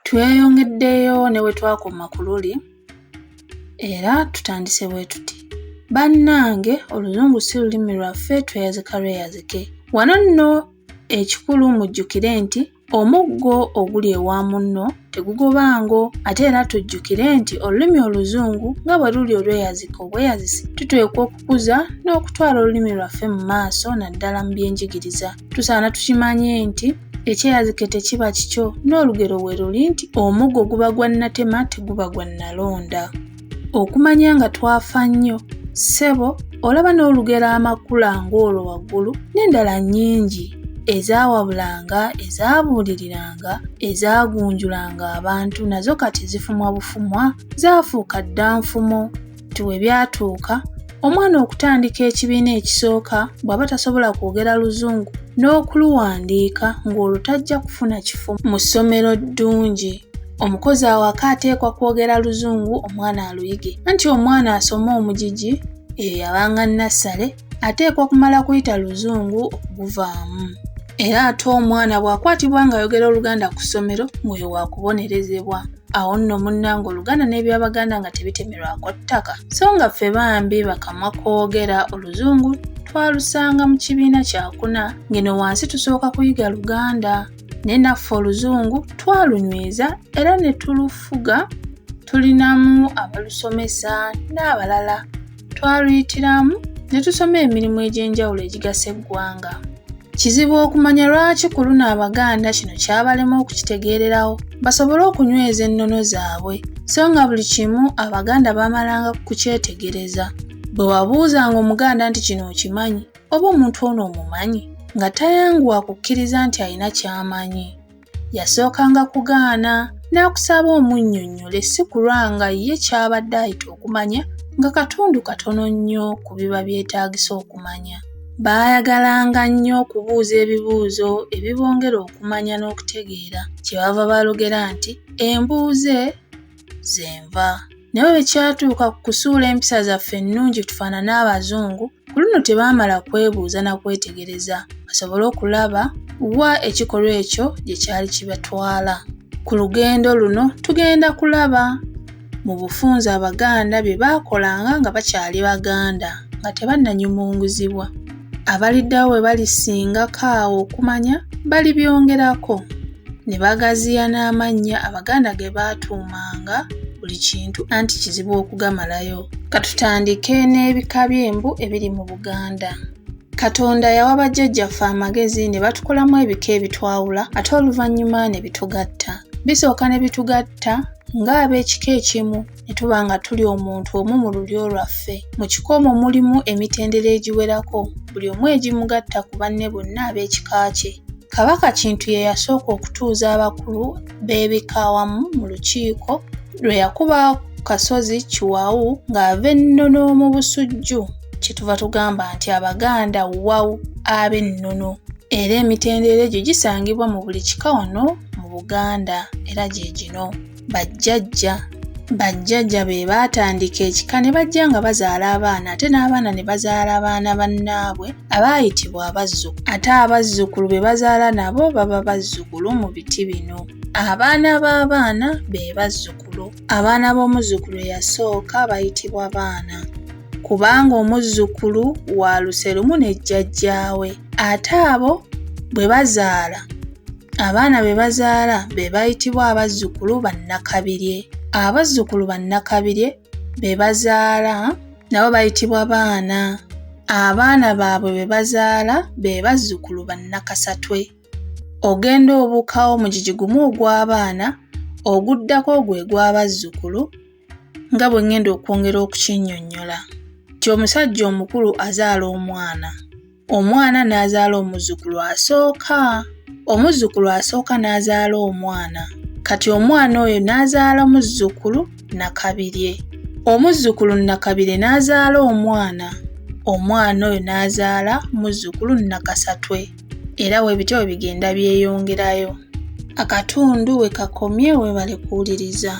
Tweyongeddeyo ne we twakoma ku luli era tutandise bwe tuti. Bannange oluzungu si lulimi lwaffe tweyazika lweyazike. Wano nno ekikulu mujjukire nti omuggo oguli ewa munno tegugoba ngo ate era tujjukire nti olulimi oluzungu nga bwe luli olweyazika obweyazisi tuteekwa okukuza n'okutwala olulimi lwaffe mu maaso naddala mu byenjigiriza. tusaana tukimanye nti ekyeyazike tekiba kikyo n'olugero we luli nti omuggo guba gwa nnatema teguba gwa nnalonda okumanya nga twafa nnyo ssebo olaba n'olugero amakula ng'olwo waggulu n'endala nnyingi ezaawabulanga ezaabuuliriranga ezaagunjulanga abantu nazo kati zifumwa bufumwa zaafuuka dda nfumo nti we byatuuka omwana okutandika ekibiina ekisooka bw'aba tasobola kwogera luzungu n'okuluwandiika ng'olwo tajja kufuna kifo mu ssomero ddungi omukozi awaka ateekwa kwogera luzungu omwana aluyige anti omwana asoma omugigi eyo yabanga nassale ateekwa okumala kuyita luzungu okuguvaamu era ate omwana bw'akwatibwa ng'ayogera oluganda ku ssomero ng'oyo waakubonerezebwa awo nno munnanga oluganda n'ebyabaganda nga tebitemerwako ttaka so nga ffe bambi bakamwa kwogera oluzungu twalusanga mu kibiina kyakuna ng'eno wansi tusooka kuyiga luganda naye naffe oluzungu twalunyweza era ne tulufuga tulinamu abalusomesa n'abalala Twaluyitiramu ne tusoma emirimu egy'enjawulo egigasa eggwanga. Kizibu okumanya lwaki ku luno Abaganda kino kyabalema okukitegeererawo basobole okunyweza ennono zaabwe so nga buli kimu Abaganda baamalanga kukyetegereza. Bwe wabuuzanga Omuganda nti kino okimanyi oba omuntu ono omumanyi nga tayanguwa kukkiriza nti alina ky'amanyi. yasookanga kugaana n'akusaba omunnyonnyole si kulwa nga ye ky'abadde ayita okumanya nga katundu katono nnyo ku biba byetaagisa okumanya. Baayagalanga nnyo okubuuza ebibuuzo ebibongera okumanya n'okutegeera kye bava balogera nti embuuze zenva. Naye bwe kyatuuka ku kusuula empisa zaffe ennungi tufaanane Abazungu, Ku luno tebaamala kwebuuza na kwetegereza basobole okulaba wa ekikolwa ekyo gye kyali kibatwala. Ku lugendo luno tugenda kulaba mu bufunze Abaganda bye baakolanga nga bakyali Baganda nga tebannanyumunguzibwa. Abaliddawo bwe balisingako awo okumanya balibyongerako ne bagaziya n'amannya Abaganda ge baatuumanga buli kintu anti kizibu okugamalayo. Katutandike n'ebika by'embu ebiri mu Buganda. Katonda yawa bajjajjaffe amagezi ne batukolamu ebika ebitwawula ate oluvannyuma ne bitugatta. Bisooka ne bitugatta ng'ab'ekika ekimu ne tuba nga tuli omuntu omu mu lulyo lwaffe. Mu kika omwo mulimu emitendera egiwerako buli omu egimugatta ku banne bonna ab'ekika kye. Kabaka Kintu ye yasooka okutuuza abakulu. beebika awamu mu lukiiko lwe yakuba kasozi kiwawu ng'ava ennono mu busujju kyetuva tugamba nti abaganda wawu ab'ennono era emitendera egyo gisangibwa mu buli kika wano mu buganda era gye gino bajjajja bajjajja be baatandika ekika ne bajja nga bazaala abaana ate n'abaana ne bazaala abaana bannaabwe abaayitibwa abazzukulu ate abazzukulu be bazaala nabo baba bazzukulu mu biti bino abaana b'abaana be bazzukulu abaana b'omuzzukulu eyasooka bayitibwa baana kubanga omuzzukulu wa luse lumu ne jjajjaawe ate abo bwe bazaala abaana be bazaala be bayitibwa abazzukulu bannakabirye abazzukulu bannakabirye be bazaala nabo bayitibwa baana abaana baabwe be bazaala be bazzukulu bannakasatwe ogenda obuukawo mugigi gumu ogw'abaana oguddako gwe gw'abazzukulu nga bwe ngenda okwongera okukinnyonnyola nti omusajja omukulu azaala omwana Omwana n'azaala omuzzukulu asooka. Omuzzukulu asooka n'azaala omwana. Kati omwana oyo n'azaala muzzukulu Nakabirye. Omuzzukulu Nakabirye n'azaala omwana. Omwana oyo n'azaala muzzukulu Nakasatwe. Era bwe bityo bwe bigenda byeyongerayo. Akatundu we kakomye weebale kuwuliriza.